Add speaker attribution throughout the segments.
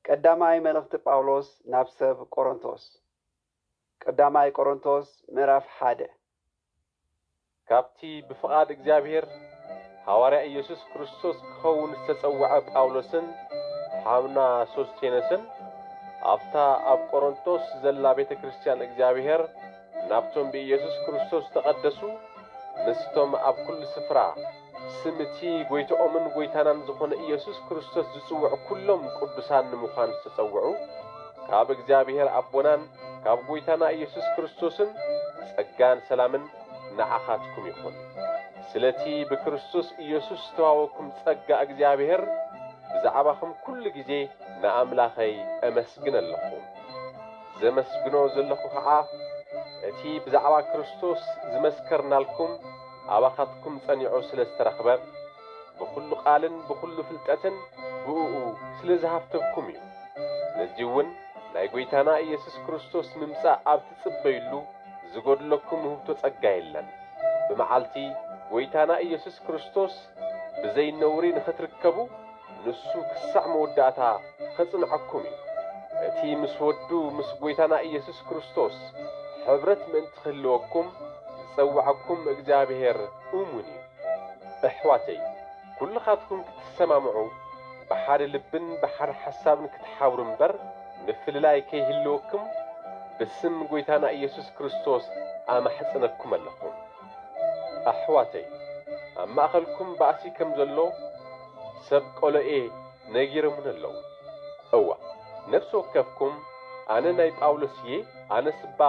Speaker 1: ቀዳማይ መልእኽቲ ጳውሎስ ናብ ሰብ ቆሮንቶስ። ቀዳማይ ቆሮንቶስ ምዕራፍ ሓደ።
Speaker 2: ካብቲ ብፍቓድ እግዚኣብሔር ሃዋርያ ኢየሱስ ክርስቶስ ክኸውን ዝተጸውዐ ጳውሎስን ሓውና ሶስቴነስን፣ ኣብታ ኣብ ቆሮንቶስ ዘላ ቤተ ክርስቲያን እግዚኣብሔር ናብቶም ብኢየሱስ ክርስቶስ ዝተቐደሱ፣ ምስቶም ኣብ ኩሉ ስፍራ፣ ስም እቲ ጐይታኦምን ጐይታናን ዝኾነ ኢየሱስ ክርስቶስ ዝጽውዑ ኵሎም ቅዱሳን ንምዃን ዝተጸውዑ ካብ እግዚኣብሔር ኣቦናን ካብ ጐይታና ኢየሱስ ክርስቶስን ጸጋን ሰላምን ንዓኻትኩም ይኹን። ስለቲ ብክርስቶስ ኢየሱስ ዝተዋወኩም ጸጋ እግዚኣብሔር ብዛዕባኹም ኵሉ ጊዜ ንኣምላኸይ እመስግን ኣለኹ። ዘመስግኖ ዘለኹ ኸዓ እቲ ብዛዕባ ክርስቶስ ዝመስከርናልኩም ኣባኻትኩም ጸኒዑ ስለ ዝተረኽበ፣ ብኹሉ ቓልን ብኹሉ ፍልጠትን ብእኡ ስለ ዝሃብተብኩም እዩ። ስለዚውን ናይ ጐይታና ኢየሱስ ክርስቶስ ምምጻእ ኣብ ትጽበዩሉ ዝጐድለኩም ውህብቶ ጸጋ የለን። ብመዓልቲ ጐይታና ኢየሱስ ክርስቶስ ብዘይ ነውሪ ንኽትርከቡ፣ ንሱ ክሳዕ መወዳእታ ኼጽንዓኩም እዩ። እቲ ምስ ወዱ ምስ ጐይታና ኢየሱስ ክርስቶስ ሕብረት ምእንቲ ኺህልወኩም ዝጸውዓኩም እግዚኣብሄር እሙን እዩ። ኣሕዋተይ፣ ኵልኻትኩም ክትሰማምዑ፣ ብሓደ ልብን ብሓደ ሓሳብን ክትሓብሩ እምበር፣ ምፍልላይ ከይህልወኩም ብስም ጐይታና ኢየሱስ ክርስቶስ ኣማሕጽነኩም ኣለኹ። ኣሕዋተይ ኣብ ማእኸልኩም ባእሲ ከም ዘሎ ሰብ ቆሎኤ ነጊሮሙኒ ኣለዉ እዋእ ነፍሲ ወከፍኩም ኣነ ናይ ጳውሎስ እየ ኣነስባ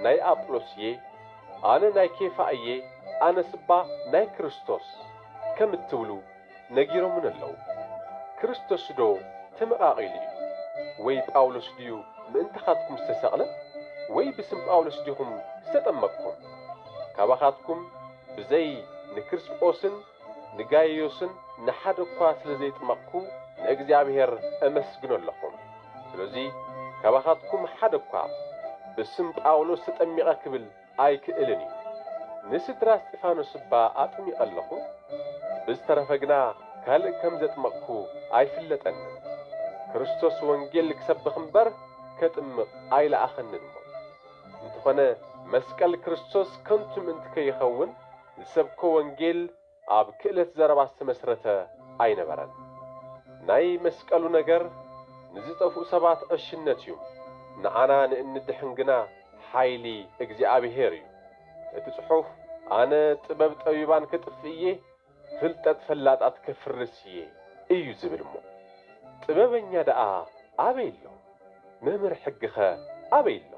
Speaker 2: ናይ ኣጵሎስ እየ ኣነ ናይ ኬፋ እየ ኣነስባ ናይ ክርስቶስ ከም እትብሉ ነጊሮሙኒ ኣለዉ። ክርስቶስዶ ተመቓቒሉ እዩ? ወይ ጳውሎስ ድዩ ምእንታኻትኩም ዝተሰቕለ? ወይ ብስም ጳውሎስ ዲኹም ዝተጠመቕኩም? ካባኻትኩም ብዘይ ንክርስጶስን ንጋይዮስን ንሓደ እኳ ስለ ዘይጥመቕኩ ንእግዚኣብሔር እመስግኖ ኣለኹ። ስለዙይ ካባኻትኩም ሓደ እኳ ብስም ጳውሎስ ተጠሚቐ ክብል ኣይክእልን እዩ ንስድራ እስጢፋኖስ እባ ኣጥሚቀ ኣለኩ ብዝተረፈ ግና ካልእ ከም ዘጥመቅኩ ኣይፍለጠንን ክርስቶስ ወንጌል ክሰብክ እምበር ከጥምቅ ኣይለኣከንን እሞ እንተኮነ መስቀል ክርስቶስ ከንቱ ምእንቲ ከይከውን ዝሰብኮ ወንጌል ኣብ ክእለት ዘረባ ዝተመስረተ ኣይነበረን። ናይ መስቀሉ ነገር ንዝጠፍኡ ሰባት ዕሽነት እዩ፣ ንዓና ንእንድሕን ግና ሓይሊ እግዚኣብሔር እዩ። እቲ ጽሑፍ ኣነ ጥበብ ጠቢባን ከጥፍእ እየ፣ ፍልጠት ፈላጣት ከፍርስ እየ እዩ ዝብል እሞ ጥበበኛ ደኣ ኣበይ ኣሎ? መምህር ሕጊኸ ኣበይ ኣሎ?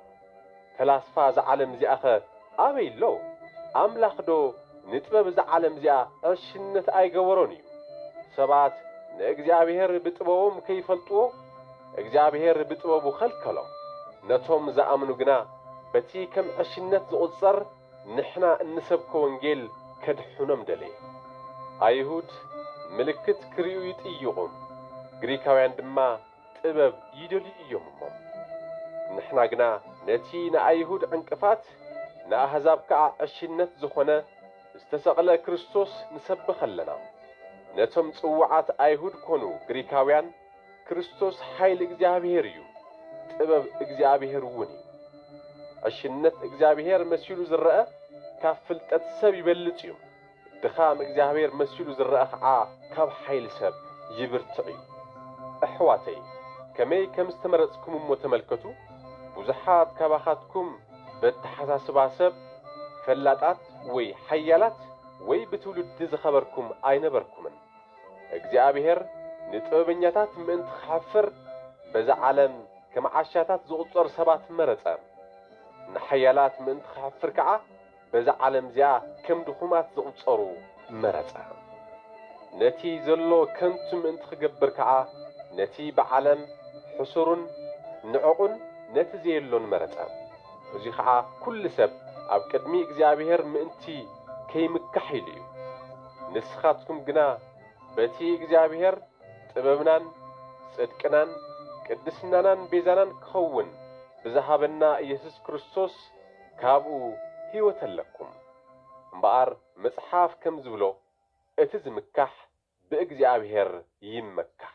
Speaker 2: ፈላስፋ እዛ ዓለም እዚኣኸ ኣበይ ኣሎ? ኣምላኽዶ ንጥበብ እዛ ዓለም እዚኣ ዕሽነት ኣይገበሮን እዩ? ሰባት ንእግዚኣብሄር ብጥበቦም ከይፈልጥዎ እግዚኣብሄር ብጥበቡ ኸልከሎም። ነቶም ዝኣምኑ ግና በቲ ከም ዕሽነት ዝቝጸር ንሕና እንሰብኮ ወንጌል ከድሕኖም ደለየ። ኣይሁድ ምልክት ክርእዩ ይጥይቝም፣ ግሪካውያን ድማ ጥበብ ይደልዩ እዮም እሞ፣ ንሕና ግና ነቲ ንኣይሁድ ዕንቅፋት ንኣህዛብ ከኣ ዕሽነት ዝኾነ ዝተሰቕለ ክርስቶስ ንሰብኽ ኣለና። ነቶም ጽዉዓት ኣይሁድ ኮኑ ግሪካውያን ክርስቶስ ሓይሊ እግዚኣብሔር እዩ፣ ጥበብ እግዚኣብሔር እውን እዩ። ዕሽነት እግዚኣብሔር መሲሉ ዝረኣ ካብ ፍልጠት ሰብ ይበልጽ እዩ። ድኻም እግዚኣብሔር መሲሉ ዝረኣ ኸዓ ካብ ሓይሊ ሰብ ይብርትዕ እዩ ኣሕዋተይ ከመይ ከም ዝተመረፅኩም እሞ ተመልከቱ ብዙሓት ካባኻትኩም በተሓሳስባ ሰብ ፈላጣት ወይ ሓያላት ወይ ብትውልዲ ዝኸበርኩም ኣይነበርኩምን እግዚኣብሔር ንጥበበኛታት ምእንቲ ክሐፍር በዛ ዓለም ከም ዓሻታት ዝቁፀር ሰባት መረፀ ንሓያላት ምእንቲ ክሐፍር ከዓ በዛ ዓለም'ዚኣ ከም ድኹማት ዝቝጸሩ መረጸ። ነቲ ዘሎ ከንቱ ምእንቲ ኺገብር ከኣ፣ ነቲ ብዓለም ሕሱሩን ንዕቕን ነቲ ዘየሎን መረጸ። እዙይ ኸኣ ኵሉ ሰብ ኣብ ቅድሚ እግዚኣብሄር ምእንቲ ከይምካሕ ኢሉ እዩ። ንስኻትኩም ግና በቲ እግዚኣብሄር ጥበብናን ጽድቅናን ቅድስናናን ቤዛናን ኪኸውን ብዝሃበና ኢየሱስ ክርስቶስ ካብኡ ህይወት ኣለኩም። እምበኣር መጽሓፍ ከም ዝብሎ እቲ ዝምካሕ ብእግዚኣብሔር ይመካሕ።